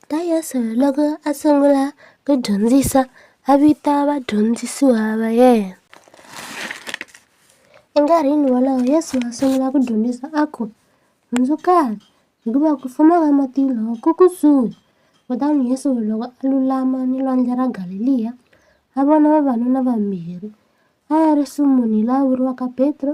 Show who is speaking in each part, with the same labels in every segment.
Speaker 1: Ta Yesu loko a sungula ku dyondzisa a vita vadyondzisiwa va yena enkarhini wolowo Yesu a sungula ku dyondzisa a ku hundzukani hikuva ku fuma ka matilo ku kusuhi kutani Yesu loko a lulama ni lwandle ra Galeliya a vona vavanuna vambirhi a ya ri sumuni la vuriwaka Petro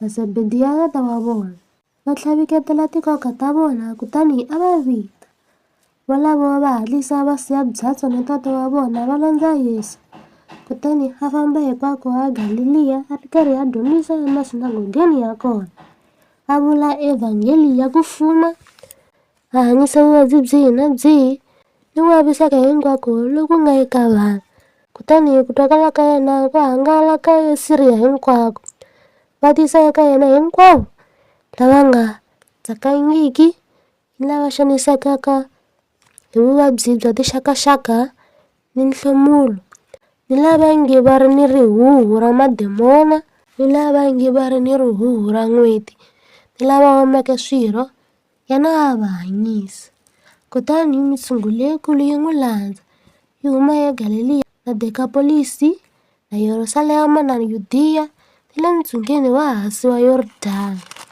Speaker 1: Masebediya tata wa vona, va tlhaviketela tinkoka ta vona kutani a va vita. Volavo va hatlisa va siya byatso na tata wa vona va landza Yesu. Kutani a famba hikwako a Galiliya a ri karhi a dyondzisa emasinagogeni ya kona, a vula evhangeli ya ku fuma Hanyisa vuvabyi byihi na byihi ni ku vaviseka hinkwako loku nga eka vanhu, kutani hi ku twakala ka yena ku hangalaka eSiriya hinkwako, va tisa eka yena hinkwavo lava nga tsakangiki ni lava xanisekaka hi vuvabyi bya tixakaxaka ni nhlomulo, ni lava nge va ri ni rihuhu ra mademona, ni lava nge va ri ni rihuhu ra n'weti, ni lava omeke swirho. Yena a a va hanyisa. Kutani mitshungu leyikulu yi n'wi landza, yi huma eGaleliya na Dekapolisi na Yerusalema na Yudiya ni le ntsungeni wa hansi wa Yordani.